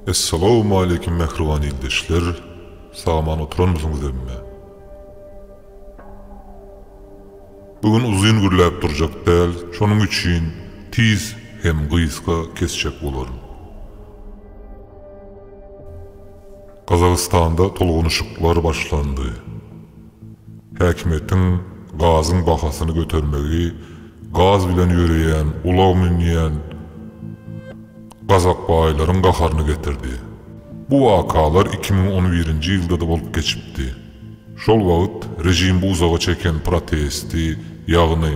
Essalawmaleýkim mähriban ildeşler saman oturanmysyňyz emme. Bu gün uzyn gürläp durjak däl şonuň üçin tiz hem gysga kesjek bolaryn. Gazagystanda tolgunyşyklar başlandy. Häkimiýetiň gazyň bahasyny götermegi gaz bilen ýöreýän ulag münýän gazakbaýlaryň gaharyny getirdi. Bu wakalar iki müň on birinji ýylda-da bolup geçipdi. Şol wagt režimbi uzaga çeken protesti, ýagny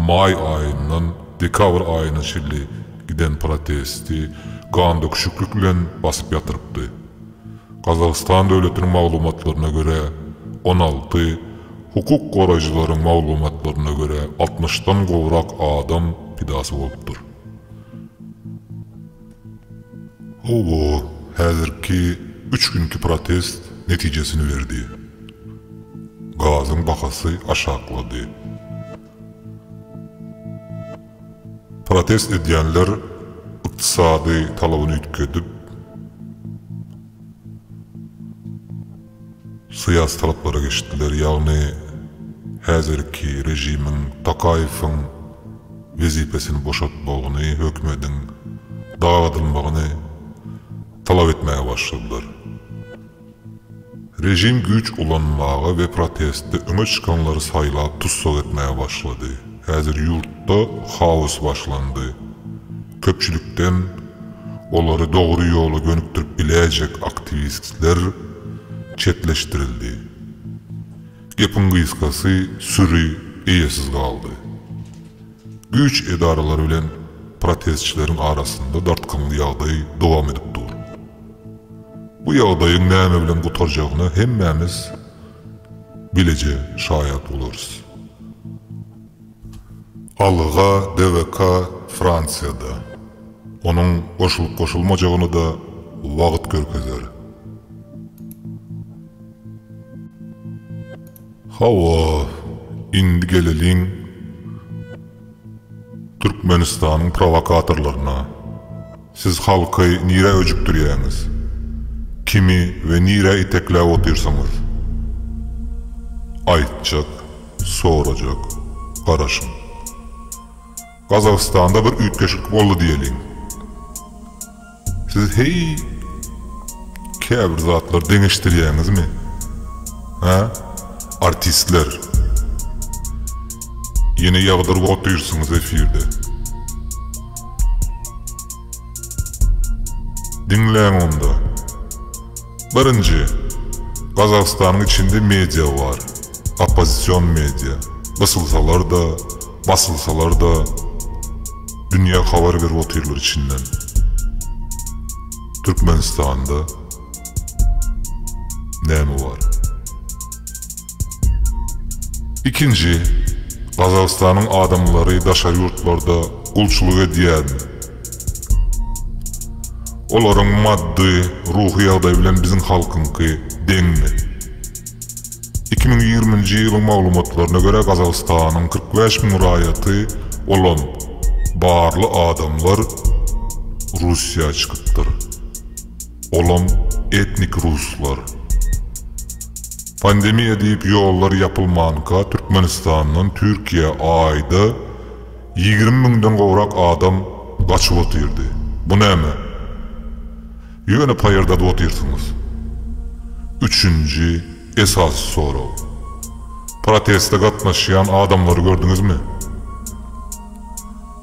maý aýyndan dekabr aýyna çenli giden protesti gandöküşiklik bilen basyp ýatyrypdy. Gazagystan döwletiniň maglumatlaryna görä, on alty, hukuk goraýjylaryň maglumatlaryna görä, altmyşdan gowrak adam pidasy bolupdyr. Hawa, häzirki üç günki protest netijesini berdi. Gazyň bahasy aşaklady. Protest edýänler ykdysady talabyny üýtgedip, syýasy talaplara geçdiler, ýagny häzirki režimiň Tokaýewiň wezipesini boşatmagyny, hökümediň dagadylmagyny talap etmäge başladylar. Režim güýç ulanmaga we protestde öňe çykanlary saýlap tussag etmäge başlady. Häzir ýurtda haos başlandy. Köpçülikden olary dogry ýola gönükdirip biläýjek aktiwistler çetleşdirildi. Gepiň gysgasy süri eýesiz galdy. Güýç edaralary bilen protestçileriň arasynda dartgynly ýagdaý dowam edip dur. Bu ýagdaýyň näme bilen gutarjagyna hemmämiz bileje şaýat bolarys. Alga DWK Fransiýada. Onuň goşulyp-goşulmajagyny-da wagt görkezer. Hawa, indi geleliň. Türkmenistanyň prowokatorlaryna, Siz halky nirä öjükdirýäňiz? Kimi we nirä itekläp otyrsyňyz? Aýtjak, sorajak, garaşyň. Gazagystanda bir üýtgeşiklik boldy diýeliň. Siz heý käbir zatlar deňeşdirýäňizmi hä artistler ýene ýagdyryp otyrsyňyz efirde diňläň onda birinji gazagystanyň içinde media bar oppozision media gysylsalarda basylsalarda Dünýä habar berip otyrlar içinden. Türkmenistanda näme bar? Ikinji, Gazagystanyň adamlary daşary ýurtlarda gulçulyk edýärmi? Olaryň maddy, ruhy ýagdaýy bilen biziň halkyňky deňmi? Iki müň ýigriminji ýylyň maglumatlaryna görä, Gazagystanyň kyrk bäş müň raýaty bolan barly adamlar Russiýa çykypdyr, olam etnik ruslar. Pandemiýa diýip ýollar ýapylmanka Türkmenistandan Türkiýä aýda ýigrimi müňden gowrak adam gaçyp otyrdy. Bu näme? Ýöne paýardadyp otyrsyňyz. Üçünji esasy sorag. Proteste gatnaşýan adamlary gördüňizmi?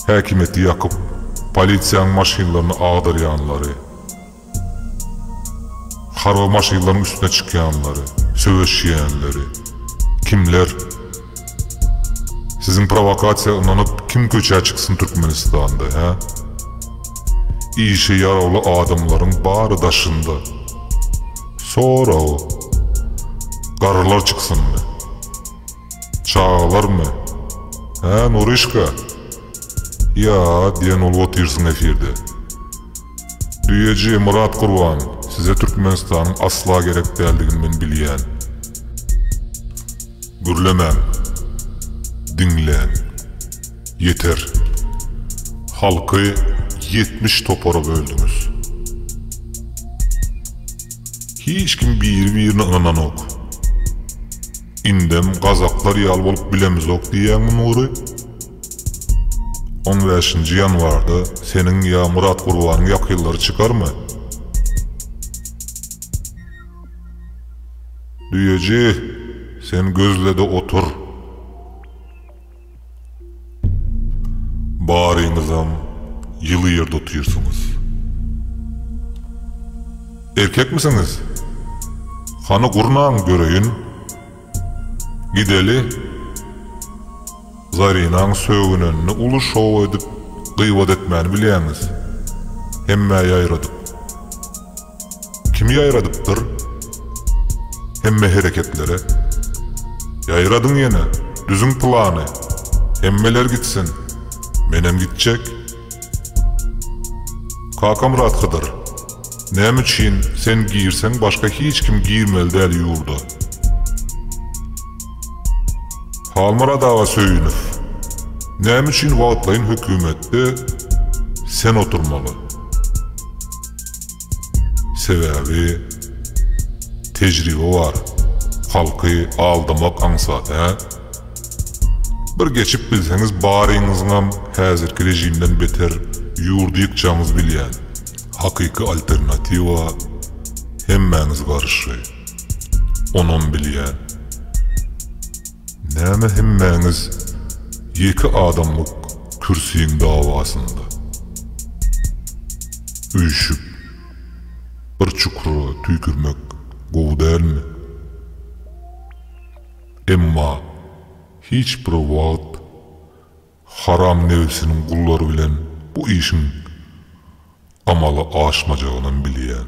Häkimiýeti ýakyp, polisiýanyň maşynlaryny agdarýanlary, harby maşynlaryň üstüne çykýanlary, söweşýänleri. Kimler? Siziň prowokasiýa ynanyp kim köçä çyksyn Türkmenistanda hä? Işe ýarawly adamlaryň bary daşynda. Sorag. Garrylar çyksynmy? Çagalarmy? Hä Nuryşka? Ýa diýen bolup otyrsyň efirde. Düýeji Myrat Gurban size Türkmenistanyň asla gerek däldigini men bilýän. Gürlemäň. Diňläň. Ýeter. Halky ýetmiş topara böldüňiz. Hiç kim biri birine ynananok. Indem gazaklar ýaly bolup bilemizok diýýäňmi Nury? On bäşinji ýanwarda seniň ýa Murat Gurbanyň ýakynlary çykarmy? Düýeji, sen gözle-de otur. Baryňyzam ýyly ýerde otyrsyňyz. Erkekmisiňiz? Hany gurnaň göreýin. Gideli. Zarinaň sögünenini uly şow edip gybat etmäni bilýäňiz. Hemmä ýaýradyp. Kimi ýaýradypdyr? Hemme hereketlere. Ýaýradyň ýene, düzüň plany. Hemmeler gitsin. Menem gitjek. Kakamyrat Hydyr. Näme üçin sen girseň başga hiç kim girmeli däl ýurda. Halmyrat aga Söýünow, näme üçin wagtlaýyn hökümetde sen oturmaly? Sebäbi tejribe bar, halky aldamak aňsat hä? Bir geçip bilseňiz baryňyzyňam häzirki režimden beter ýurdy ýykjagyňyzy bilýän, hakyky alternatiwa hemmäňiz garşy. Onam bilýän. Näme hemmäňiz ýeke adamlyk kürsiň dawasynda? Üýşüp, bir çukura tüýkürmek gowy dälmi? Emma hiç bir wagt Haram nebsiniň gullary bilen bu işiň amala aşmajagynam bilýän.